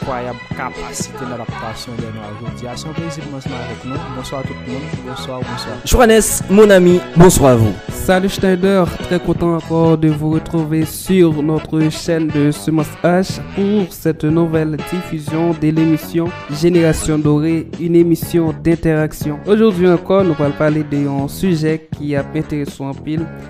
Kwayab kapasite ladaptasyon dè nwa jodia se yon plezi pou m ansanm avèk nou bonswa tout moun bonswa ou bonswa. Johannes mon ami bonsoir vous. Salut Schneider, très content encore de vous retrouver sur notre chaîne de Semence H pour cette nouvelle diffusion de l'émission Génération Dorée, une émission d'interaction. Aujourd'hui encore, nous allons parler d'un sujet qui a intéressé en pile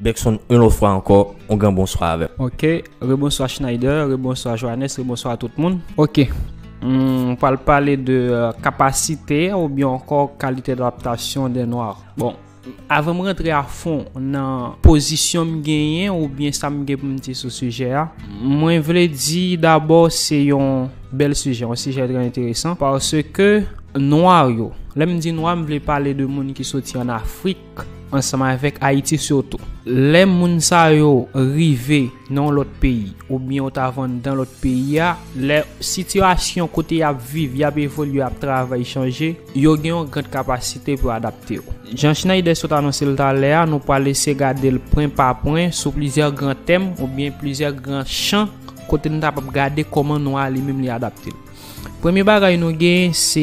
Bergson yon lòt fwa ankò, yon gran bonswa avèm. Ok, rebonswa Schneider, rebonswa Johannes, rebonswa a tout moun. Ok, m pral pale de kapasite ou byen ankò kalite d'adaptasyon den nwa. Bon, avan m rantre a fon nan pozisyon m genyen ou byen sa m gen pou m di sou sijè a, mwen vle di dabò se yon bèl sijè, yon sijè trè enteresan, paske nwa yo, lè m di nwa m vle pale de moun ki soti an Afrik, ansanm avèk Ayiti sitou. Lè moun sa yo rive nan yon lòt peyi oubyen yo ta vann dan lòt peyi a, lè sitiyasyon kote y ap viv, y ap evolye, y ap travay chanje, yo gen yon gran kapasite pou yo adapte yo. Jan Schneider sot anonse l talè a, nou pral eseye gade l pwen pa pwen sou plizyè gran tèm oubyen plizyè gran chan kote nou kapab gade kòman nwa a li menm li adapte l. Premye bagay nou gen se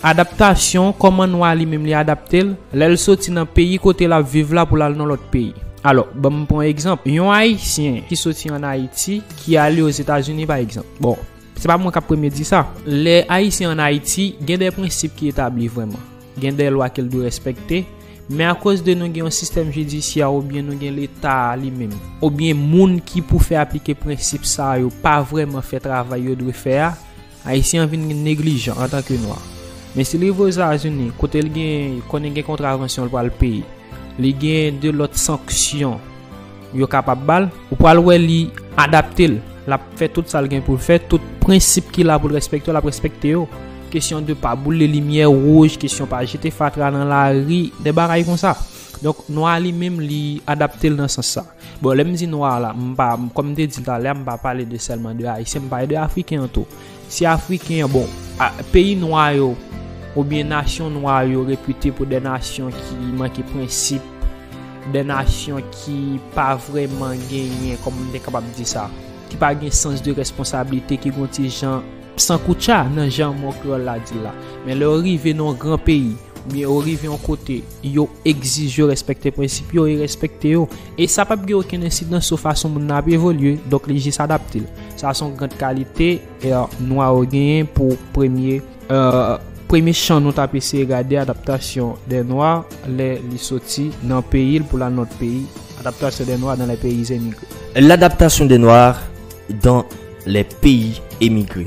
adaptasyon, kòman nwa li menm li adapte l, lè l soti nan peyi kote l ap viv la pou l al nan lòt peyi. Alò, ban m pran egzanp, yon Ayisyen ki soti ann Ayiti, ki ale Ozetazini pa egzanp. Bon, se pa mwen k ap premye di sa. Lè Ayisyen ann Ayiti, gen de prensip ki etabli vrèman. Gen de lwa ke l dwe respekte, men akoz de nou gen yon sistèm jidisyè oubyen nou gen Leta a li menm, oubyen moun ki pou fè aplike prensip sa yo pa vrèman fè travay yo dwe fè a, Ayisyen an vin neglijan antanke Nwa. Men si l rive Ozazini, kote l gen konnen gen kontravansyon l pral peye, li gen de lòt sanksyon. Yo kapab ba l, ou pral wè li adapte l, l ap fè tout sa l gen pou l fè, tout prensip ki la pou l respekte yo l ap respekte yo. Kesyon de pa boule limyè wouj, kesyon pa jete fatra nan lari, de bagay kon sa. Donk, nwa li menm li adapte l nan sans sa. Bon, lè m di nwa la, m pa, kòm m te di l talè a, m pa pale de sèlman de Ayisyen, m pale de Afriken an tou. Si Afriken an, bon, peyi nwa yo oubyen nasyon nwa yo repite pou 2 nasyon ki manke prensip, 2 nasyon ki pa vrèman genyen, kòman m te kapab di sa, ki pa gen sans de responsablite, ki gen yon ti jan sankoutcha nan jan mo kreyòl la di l la. Men lè ou rive nan yon gran peyi, oubyen ou rive yon kote, Yo egzije yo respekte prensip yo e respekte yo. E sa pap gen okenn ensidans sou fason moun nan ap evolye, donk li jis adapte l. Sa son grand kalite e nwa yo genyen pou premye e. Premye chan nou tap eseye gade adaptasyon dè nwa lè li soti nan peyi l pou l al nan lòt peyi, adaptasyon dè nwa dan lè peyi zemigre. L'adaptation des Noirs dans les pays émigrés.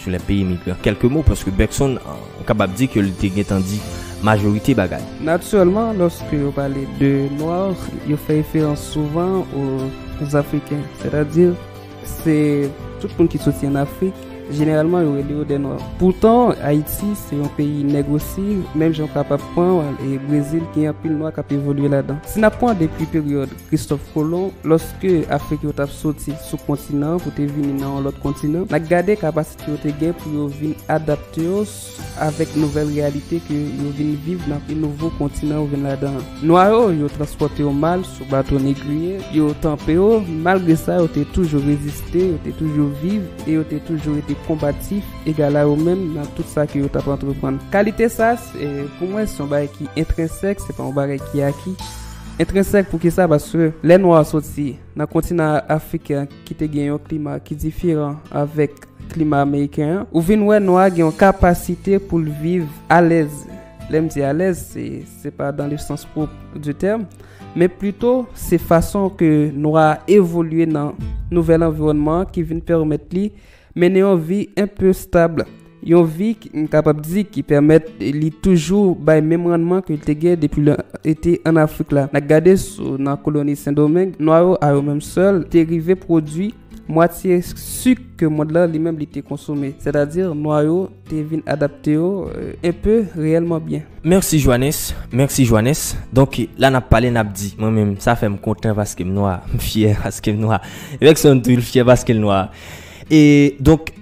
Sou lè peyi migran kèlke mo paske Bergson ou kapab di ke li te gentan di majorite bagay. Natirèlman lòske yo pale de nwa yo fè referans souvan o zafriken sètadi se tout moun ki soti an afrik jeneralman yo rele yo dè nwa. Poutan Ayiti se yon peyi nèg osi menm jan ou kapab pran e brezil gen anpil nwa kap evolye ladan. Si nap pran depi peryòd. Kristòf Kolon, lòske Afrik yo t ap soti sou kontinan pou te vini nan yon lòt kontinan, n a gade kapasite yo te gen pou yo vin adapte yo avèk nouvèl reyalite ke yo vin viv nan pi nouvo kontinan yo vin ladan an. Nwa yo, yo transpòte yo mal sou bato negriye, yo tanpe yo, malgre sa yo te toujou reziste, yo te toujou viv e yo te toujou rete konbatif, egal a yo menm nan tout sa ke yo t ap antreprann. Kalite sa, pou mwen, se yon bagay ki entrensèk, se pa yon bagay ki aki. Entrensèk poukisa paske lè nwa soti nan kontinan afriken an ki te gen yon klima ki diferan avèk klima ameriken an ou vin wè nwa gen yon kapasite pou l viv alèz lè m di alèz se pa dan le sans pwop di tèm men plito se fason ke nwa evolye nan nouvèl anviwònman ki vin pèmèt li Mennen yon vi enpe stab. Yon vi m kapab di ki pèmèt li toujou bay menm rannman ke l te gen depi l te ann Afrik la. N a gade sou nan koloni Sendomeng, nwa yo a yo menm sèl te rive pwodui mwatye sik ke mond la li menm li te konsome. Sètadi nwa yo. Te vin adapte yo un peu reyèlman byen. Merci Joannes, merci Joannes, donk la nap pale nap di, mwen menm sa fèm kontan paskem nwa, m fyè paskem nwa, Luckson tou l fyè paskel nwa, e donk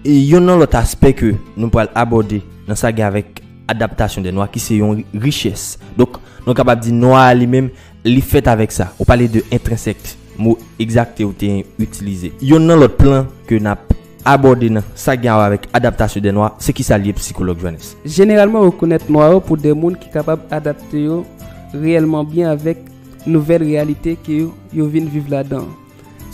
yonn nan lòt aspè ke nou pral abòde nan sa gen avèk adaptasyon dè nwa ki se yon richès, donk nou kapab di nwa a li menm li fèt avèk sa, ou pale de intrinsèque mo egzakte ou te itilize, yonn nan lòt plan ke nap Abòde nan sa gen awè avèk adaptasyon de nwa, se kisa li ye pou sikològ Joannes? Jeneralman rekonèt nwa yo pou de moun ki kapab adapte yo reyèlman byen avèk nouvèl reyalite ke yo vin viv ladan an.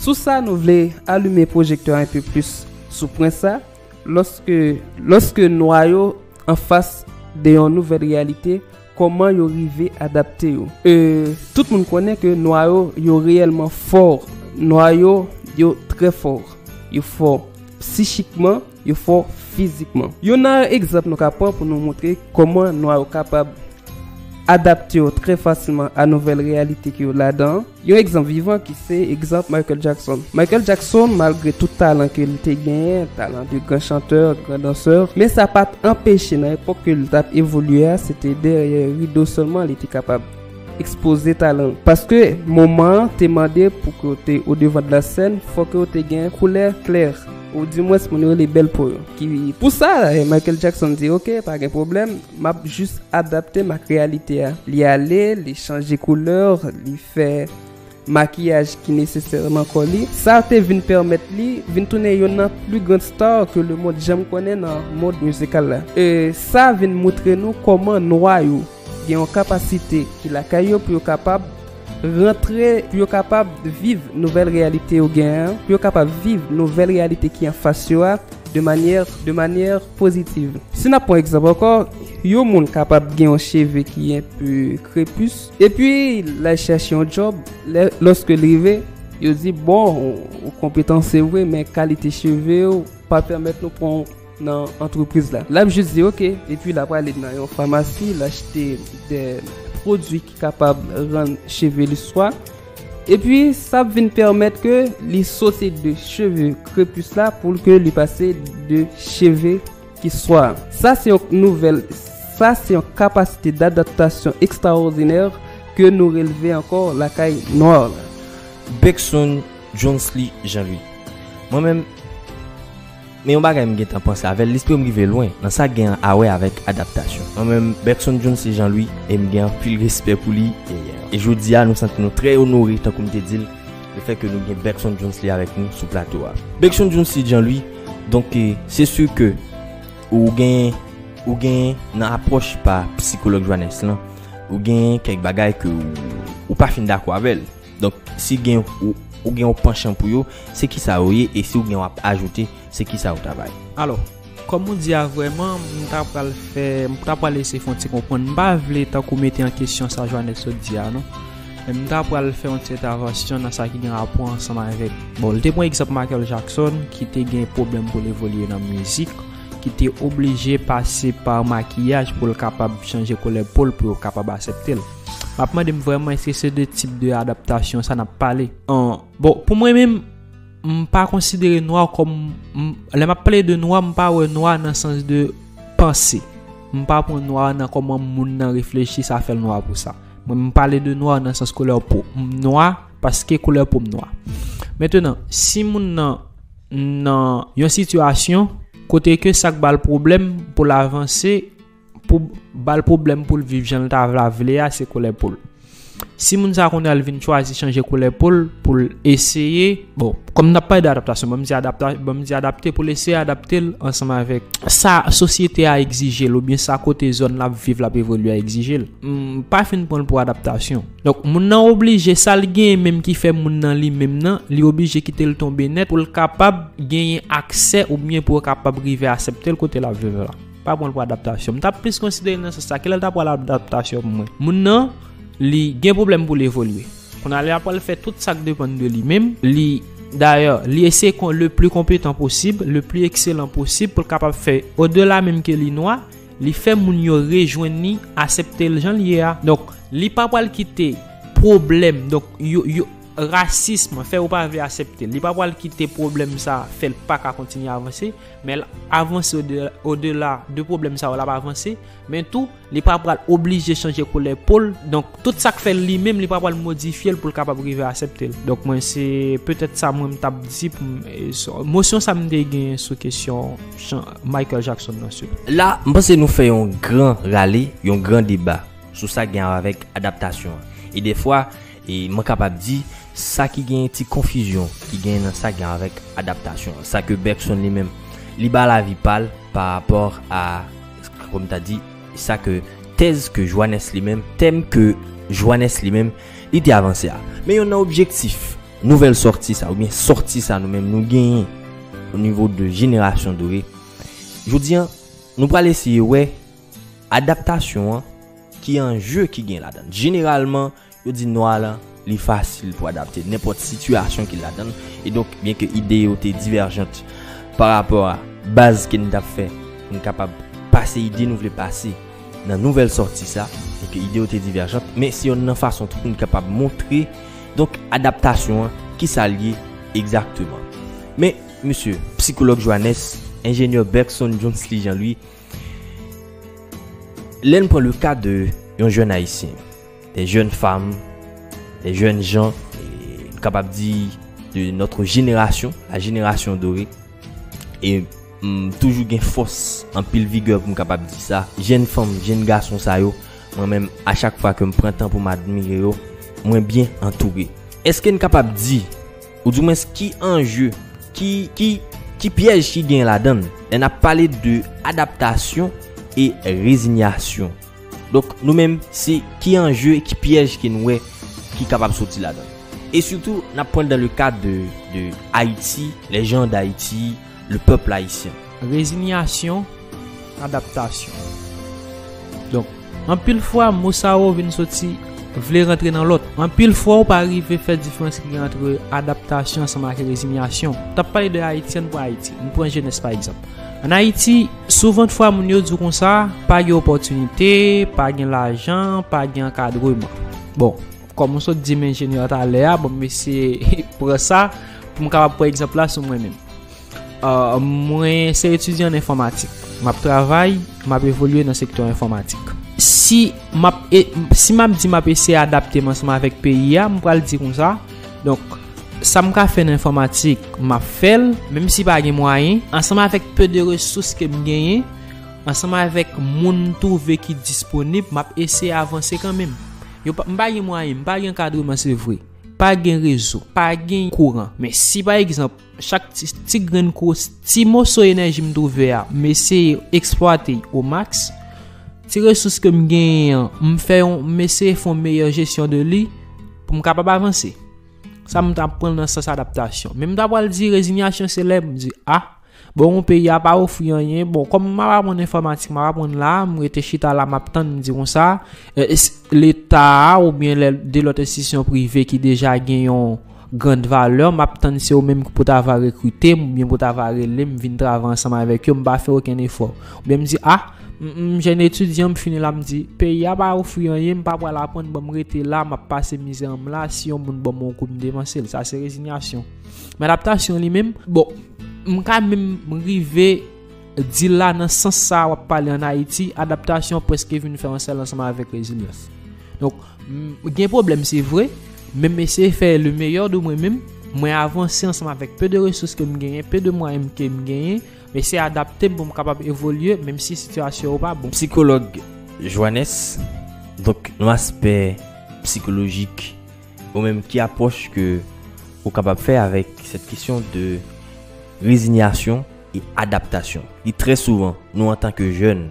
Sou sa nou vle alume pwojektè a enpe plis sou pwen sa, lòske lòske nwa yo anfas de yon nouvèl reyalite, Kòman yo rive adapte yo? E, tout moun konnen ke nwa yo, yo reyèlman fò. Nwa yo, yo trè fò. Yo fò psichikman, yo fò fizikman. Youn nan egzanp nou ka pran pou nou montre kòman nwa yo kapab adapte yo trè fasilman a nouvèl reyalite ke yo ladan an, Yon egzanp vivan ki se egzanp Michael Jackson. Michael Jackson, malgre tout talan ke l te genyen, talan de gran chantè, gran dansè, men sa pa t anpeche nan epòk ke l t ap evolye a, se te dèyè rido sèlman li te kapab ekspoze talan l. Paske moman an te mande pou ke w te odevan de la sèn, fò ke w te gen koulè klè, ou dimwens moun yo rele bèl po yo, ki. Pou sa, Michael Jackson di, Ok, pa gen pwoblèm. Map jus adaptem ak reyalite a. Li ale, li chanje couleur, li fè makiyaj ki nesesèreman kò li. Sa te vin pèmèt li vin tounen youn nan pli grand star ke le mond janm konnen nan mond mizikal la. E sa vin moutre nou kòman nwa yo gen yon kapasite ki lakay yo pou yo kapab. Rantre pou yo kapab viv nouvèl reyalite yo gen an, pou yo kapab viv nouvèl reyalite ki anfas yo a de manyè, de manyè pozitiv. Si n ap pran egzanp ankò, yon moun kapab gen yon cheve ki enpe krepus, epi l al chèche yon djòb, lè, lòske l rive, yo di, bon, ou konpetan se vre, men kalite cheve ou pa pèmèt nou pran w. nan antrepriz la. Lap jis di ok epi lap ale nan yon famasi l achte de pwodui ki kapab rann cheve li swa. Epi sa ap vin pèmèt ke li sote de cheve krepis la pou l ke li pase de cheve ki swa. Sa se yon nouvèl, sa se yon kapasite d'adaptasyon ekstraòdinè ke nou relve ankò lakay nwa la. Beckson Johnsley Jean-Louis Mwen menm. Men yon bagay m gentan panse avèl lesprim rive lwen nan sa gen awè avèk adaptasyon. Mwen menm Bergson Jones se Jean Louis e m gen anpil respè pou li e jodia nou santi nou trè onore tankou m te di l le fè ke nou gen Bergson Jones Lee avèk nou sou plato a. Bergson Jones Lee Jean Louis donk se sur ke ou gen ou gen nan apwòch pa psikològ Joannès lan ou gen kèk bagay ke ou pa fin dakò avèl. Donk, si gen ou gen yon panchan pou yo, se ki sa yo ye e si ou gen yon ap ajoute, se ki sa yo ta bay? Alò, kòm ou di a vrèman, m ta pral fè, m ta pral eseye fè yon ti konprann. M pa vle tankou mete an kesyon sa Joannès sot di a non. Men m ta pral fè yon ti entavansyon nan sa ki gen rapò ansanm avèk, bon l te pran egzanp Michael Jackson ki te gen pwoblèm pou l evolye nan mizik, ki te oblije pase pa makiyaj pou l kapab chanje koulè po l pou yo kapab asepte l. Map mandem vreman eske se de tip de adaptasyon sa nap pale. An, bon pou mwen menm, m pa konsidere nwa kòm, m, lè map pale de nwa m pa wè nwa nan sans de panse. M pa pran nwa nan kòman moun nan reflechi sa fèl nwa pou sa. Mwen m pale de nwa nan sans koulè po. M nwa paske koulè po m nwa. Mentenan, si moun nan nan yon sitiyasyon kote ke sak bal pwoblèm pou l avanse. pou bal pwoblèm pou l viv jan l ta vla vle a se koulè po l. Si moun sa konnen al vin chwazi chanje koulè po l pou l eseye, bon, kòm nap pale de adaptasyon, banm di adapta, banm di adapte pou l eseye adapte l ansanm avèk sa sosyete a egzije l ou byen sa kote zòn l ap viv l ap evolye a egzije l. M pa fin pran l pou adaptasyon. Donk moun nan oblije sa l genyen menm ki fè moun nan li menm nan, li oblije kite l tonbe nèt pou l kapab genyen aksè ou byen pou yo kapab rive asepte l kote l ap viv la. Pa pran l pou adaptasyon. M tap plis konsidere l nan sans sa. Kilè l ta pral adaptasyon pou mwen? Moun nan, li gen pwoblèm pou l evolye. Kounye a li apral fè tout sa k depann de li menm. Li, dayè, li eseye kon le pli konpetan posib, le pli ekselan posib pou l kapab fè odela menm ke li nwa, li fè moun yo rejwenn li, asepte l jan l ye a. Donk, li pa pral kite pwoblèm, donk, yo, yo, rasism fè yo pa vle asepte l. Li pa pral kite pwoblèm sa fè l pa ka kontinye avanse. Men l ap avanse odela de pwoblèm sa yo l ap avanse, men tou li pa pral oblije chanje koulè po l, donk tout sa k fè l li menm li pa pral modifye l pou l kapab rive asepte l. Donk mwen se petèt sa mwen m t ap di pou m mosyon sa m te gen sou kesyon Michael Jackson nan sou. La m panse nou fè yon gran rale, yon gran deba sou sa k gen awa avèk adaptasyon an e dèfwa, E mwen kapab di, sa ki genyen ti konfizyon ki genyen nan sa gen avèk adaptasyon an, sa ke Bergson li menm, li ba lavi pa l pa rapò a, kòm m ta di, sa ke tèz ke Joannes li menm, tèm ke Joannes li menm, li te avanse a. Men yon nan objektif nouvèl sòti sa, oubyen sòti sa nou menm nou genyen o nivo de Jenerasyon Dore, jodi an, nou pral eseye wè adaptasyon an ki anje ki gen ladan l. Jeneralman. Yo di nwa lan li fasil pou adapte nenpòt sitiyasyon ki ladan l, e donk byen ke ide yo te divèjant pa rapò a baz ke n t ap fè pou n kapab pase ide nou vle pase nan nouvèl sòti sa, byen ke ide yo te divèjant, men se yonn nan fason tou pou n kapab montre donk adaptasyon an ki sa l ye egzakteman. Men, mesye, psikològ Johannes, enjenyè Bergson Johnsly Jean-Louis, Lè n pran le ka de yon jèn Ayisyen, de jèn fam, de jèn jan, n kapab di de notre jenerasyon, la jenerasyon dore, e m toujou gen fòs anpil vigè pou m kapab di sa, jèn fanm, jèn gason sa yo, mwen menm a chak fwa ke m pran tan pou m admire yo, mwen byen antoure. Eske n kapab di. Ou di mwens ki anje, ki pyèj ki gen ladan l. Lè n ap pale de adaptasyon e rezinyasyon. Donk nou menm se ki anje, ki pyèj ke n wè ki kapab soti ladan l. E sitou n ap pran dan le kad de Ayiti, lè jan dAyiti. le peuple haïtien. Rezinyasyon, adaptasyon. Donk, anpil fwa mo sa yo vin soti vle rantre nan lòt. Anpil fwa ou pa rive fè diferans ki gen antre adaptasyon ansanm ak rezinyasyon. T ap pale de Ayiti, ann pran Ayiti. Ann pran jenès pa egzanp. Ann Ayiti, souvan t fwa moun yo di w konsa, pa gen opòtinite, pa gen lajan, pa gen ankadreman. Bon. Kòm ou sot di m enjenyè an talè a, bon m eseye pran sa pou m kapab pran egzanp la sou mwen menm. Euh, mwen se etidyan an enfòmatik. M ap travay, m ap evolye nan sektè enfòmatik. Si m ap e, si m ap di m ap eseye adapte m ansanm avèk peyi a, m pral di konsa, donk, sa m ka fè nan enfòmatik, m ap fè l, menm si pa gen mwayen, ansanm avèk peu de resous ke m genyen, ansanm avèk moun m twouve ki disponib, m ap eseye avanse kanmenm. Yo pa, m pa gen mwayen, m pa gen ankadreman se vre. Pa gen rezo, pa gen kouran. Men si pa egzanp, chak ti, ti grenn kous, ti moso enèji m twouve a, m eseye eksplwate y o maks, ti resous ke m genyen an, m fè yon, m eseye fè yon meyè jesyon de li, pou m kapab avanse. Sa m ta pran nan sans adaptasyon. Men m ta pral di rezinyasyon se lè m di, a. Bon peyi a pa ofri anyen. Bon kòm map aprann enfòmatik map aprann la, m rete chita la map tann m di konsa. Leta a oubyen lè de lòt enstitisyon prive ki deja gen yon grand valè map tann se yo menm pou ta va rekrite m oubyen pou ta va rele m vin travay ansanm avèk yo m pa fè okenn efò. Oubyen m di a m jèn etidyan m fini la m di peyi a pa ofri anyen m pa pral aprann bon m rete la map pase mizè m la si yon moun ban m yon kou m devanse l sa se rezinyasyon. Men adaptasyon li menm, bon, m ka menm rive di la nan sans sa a w ap pale an Ayiti, adaptasyon prèske vin fè yon sèl ansanm avèk rezilyans. Donk, gen pwoblèm se vre, men m eseye fè le meyè de mwen menm, mwen avanse ansanm avèk pe de resous ke m genyen, pe de mwayen ke m genyen, m eseye adapte m pou m kapab evolye menm si sitiyasyon yo pa bon. Psikològ Joannes, donk nan aspè psikolojik. Ou menm ki apwòch ke ou kapab fè avèk sèt kesyon de rezinyasyon e adaptasyon? Li trè souvan, nou antan ke jèn,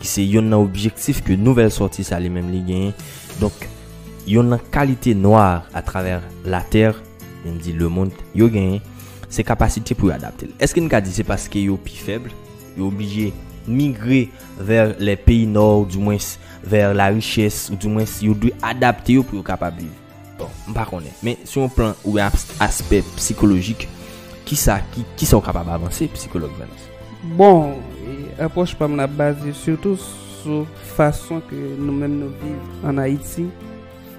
ki se yonn nan objektif ke Nouvèl Sòti sa li menm li genyen, donk yonn nan kalite nwa atravè latè, menm di lemond, yo genyen, se kapasite pou yo adapte. Èske n ka di se paske yo pi fèb, yo oblije migre? Vers les pays nord ou du moins vers la richesse ou du moins yo dwe adapte yo pou yo kapab viv. Bon, m pa konnen. Men sou yon plan ou yon aspè psikolojik, ki sa ki, ki sa ou kapab avanse psikolog Vans? Bon, apwòch pa m nan ap baze sitou sou fason ke nou menm nou viv an Ayiti,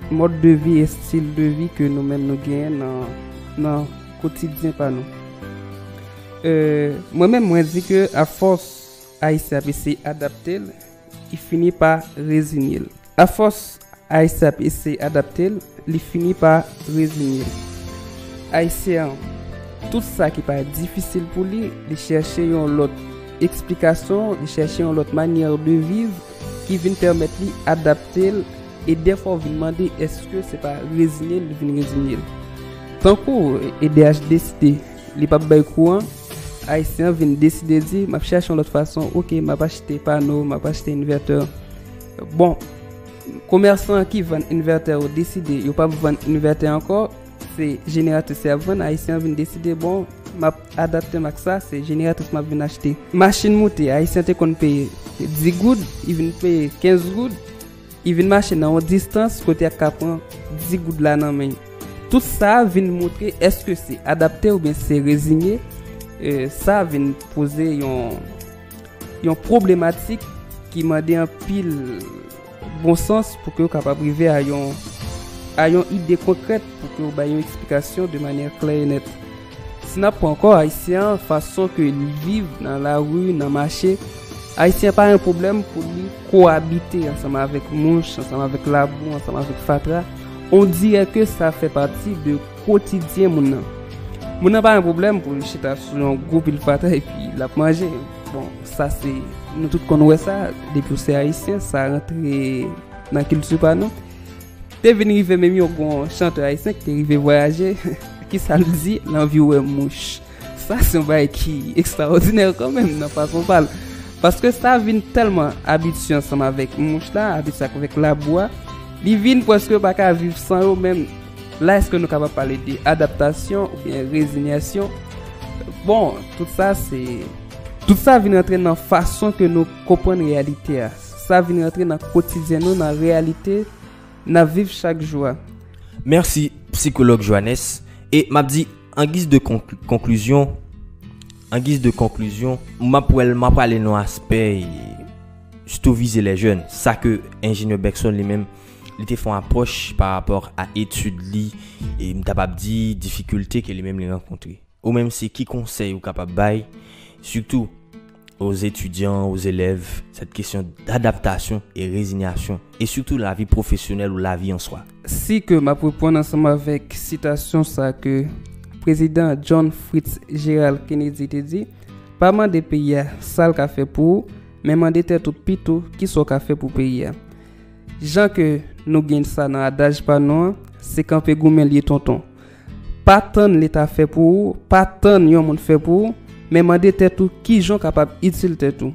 mòd de vi, estil de vi ke nou menm nou genyen nan, nan kotidyen pa nou. Mwen menm mwen di ke a fòs Ayisyen ap eseye adapte l, li fini pa rezinye l. Afòs Ayisyen ap eseye adapte l, li fini pa rezinye l. Ayisyen an, tout sa ki pa difisil pou li, li chèche yon lòt eksplikasyon, li chèche yon lòt manyè de viv ki vin pèmèt li adapte l e dèfwa ou vin mande èske se pa rezinye l li vin rezinye l. Tankou edh deside li p ap bay kou an. Ayisyen vin deside di map chache yon lòt fason ok map achte pano map achte inverter bon komèsan ki vann inverter yo deside yo pap vann inverter ankò se jeneratris yap vann ayisyen vin deside bon map adaptem ak sa se jeneratris map vin achte machin moute ayisyen te konn peye 10 goud li vin peye 15 goud I vin mache nan yon distans kote ak ka pran 10 goud la nan men. Tout sa vin montre eske se adapte oubyen se rezinye, sa vin poze yon pwoblematik ki mande anpil bon sans pou ke ou kapab rive a yon ide konkrèt pou ke ou bay yon eksplikasyon de manyè klè e nèt. Si nap pran kò ayisyen an fason ke li viv nan lari nan mache ayisyen pa yon pwoblèm pou li kowabite ansanm avèk mouch ansanm avèk labou ansanm avèk fatra on dirè ke sa fè pati de kotidyen moun nan moun nan pa yon pwoblèm pou li chita sou yon gwo pil fatra epi lap manje bon sa se nou tout konn wè sa depiw se ayisyen sa rantre nan kilti pa nou. Te vin rive menm yon gon chanteur ayisyen ki te rive vwayaje kisa l di l anvi wè mouch sa se yon bagay ki ekstraòdinè kan menm nan fason pa l paske sa vin tèlman abitye ansanm avèk mouch la abitye avèk labou a li vin prèske pa ka viv san yo menm la èske nou kapab pale de adaptasyon oubyen rezinyasyon bon tout sa se tout sa vin rantre nan fason ke nou konprann reyalite a. Sa vin rantre nan kotidyen nou, nan reyalite n ap viv chak jou a. Mèsi, Psikològ Joannes. E m ap di, an giz de konklizyon, an giz de konklizyon, m ap wè l, m ap prale nan aspè sitou vize lè jèn. Sa ke Enjenyè Bergson li menm, li te fè yon apwòch pa rapò a etid li, e m ta p ap di difikilte ke li menm li rankontre. Ou menm se ki konsèy ou kapab bay sitou oz etidyan, oz elèv sèt kesyon dadaptasyon e rezinyasyon e sitou lavi pwofesyonèl ou lavi an swa? Si ke map reponn ansanm avèk sitasyon sa ke Prezidan John Fritz Gerald Kennedy te di, pa mande peyi a sa l ka fè pou ou, men mande tèt ou pito ki sa w ka fè pou peyi a. Jan ke nou gen sa nan adaj pa nou an, se kanpe goumen l ye tonton. Pa tann leta fè pou ou, pa tann yon moun fè pou ou, men mande tèt ou kijan ou kapab itil tèt ou.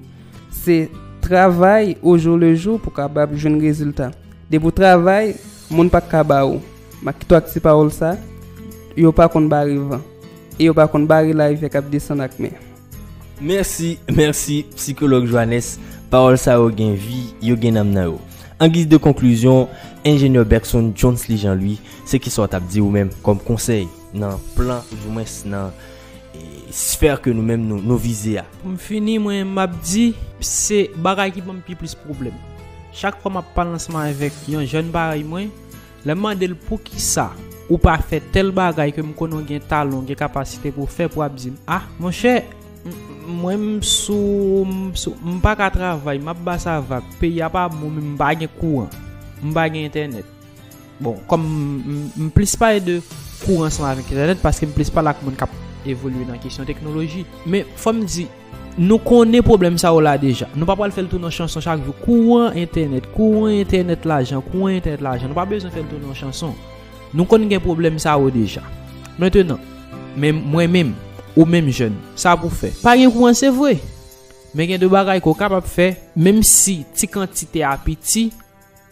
Se travay ojoulejou pou kapab jwenn rezilta. Depi ou travay, moun pa ka ba ou. Ma kite w ak ti pawòl sa, Yo pa konn bare van, e yo pa konn bare layivè k ap desann ak men. Mèsi, mèsi psikològ Joannes, pawòl sa yo gen vi, yo gen nanm nan yo. An giz de konklizyon, enjenyè Bergson Johnsley Jean Louis, se ki sa w t ap di ou menm kòm konsèy nan plan ou di mwens nan sfè ke nou menm nou vize a? Pou m fini mwen m ap di, se bagay ki ban m pi plis pwoblèm. Chak fwa m ap pale ansanm avèk yon jèn parèy mwen, Lè m mande l poukisa ou pa fè tèl bagay ke m konnen w gen talan, w gen kapasite pou w fè pou w ap di m a, monchè mwen m sou, m sou, m pa ka travay, m ap ba sa vag, peyi a pa bon men m pa gen kouran, m pa gen entènèt. Bon, kòm m plis pale de kouran ansanm avèk entènèt paske m plis pale ak moun k ap evolye nan kesyon teknoloji. Men fò m di. Nou konnen pwoblèm sa yo la deja. Nou pa pral fè l tounen yon chanson chak jou. Kouran entènèt, kouran entènèt lajan, kouran entènèt lajan. Nou pa bezwen fè l tounen yon chanson. Nou konn gen pwoblèm sa yo deja. Mentenan, men mwen menm, ou menm jèn, sa pou fè. Pa gen kouran se vre, men gen de bagay ke w kapab fè, menm si ti kantite a piti.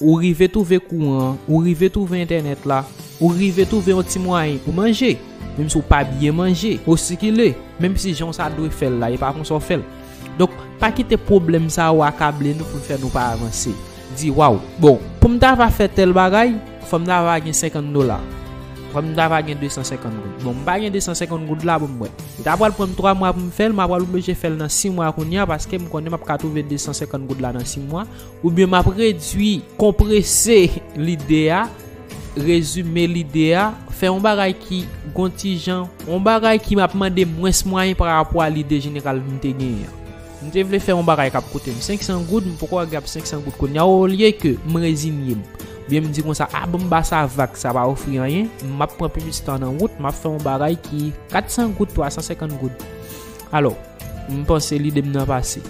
Ou rive twouve kouran an, ou rive twouve entènèt la, ou rive twouve yon ti mwayen pou manje, menm si w pa byen manje, ou sikile, menm si jan w sa dwe fè l la, e pa konsa w fè l. Donk, pa kite pwoblèm sa yo akable nou pou l fè nou pa avanse. Di, Waw! Bon, pou m ta va fè tèl bagay, fò m ta va gen senkant dola. Fò m ta va gen desan senkant goud. Bon, m pa gen desan senkant goud la pou m mwen. Li ta pral pran m twa mwa pou m fè l, m apral oblije fè l nan si mwa kounye a paske m konnen m ap ka twouve desan senkant goud la nan si mwa, Oubyen m ap redui, konprese lide a, rezime lide a, fè yon bagay ki gon ti jan, yon bagay ki ap mande mwens mwayen pa rapò a lide jeneral m te genyen an. M te vle fè yon bagay k ap koute m 500 goud, m poko agab 500 goud kounye a, olyeke m rezinye m, oubyen m di konsa, a bon m ba sa vag, sa pa ofri anyen, m ap pran plis tan nan wout, m ap fè yon bagay ki 400 goud, 350 goud. Alò. M panse lide m nan pase.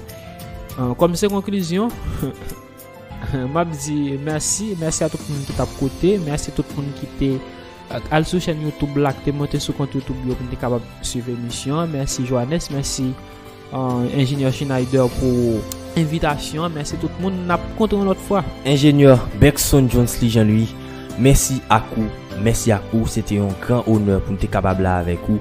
Kòm se konklizyon, m ap di mèsi. Mèsi a tout moun ki t ap koute. Mèsi tout moun ki te al sou chèn YouTube la, ki te monte sou kont YouTube yo pou nou te kapab swiv emisyon an. Mèsi Johannes, mèsi Enjenyè Schneider pou envitasyon an. Mèsi tout moun. N ap kontre yon lòt fwa. Enjenyè Bergson Johnsly Jean Louis, mèsi ak ou. Mèsi ak ou. Se te yon gran onè pou nou te kapab la avèk ou.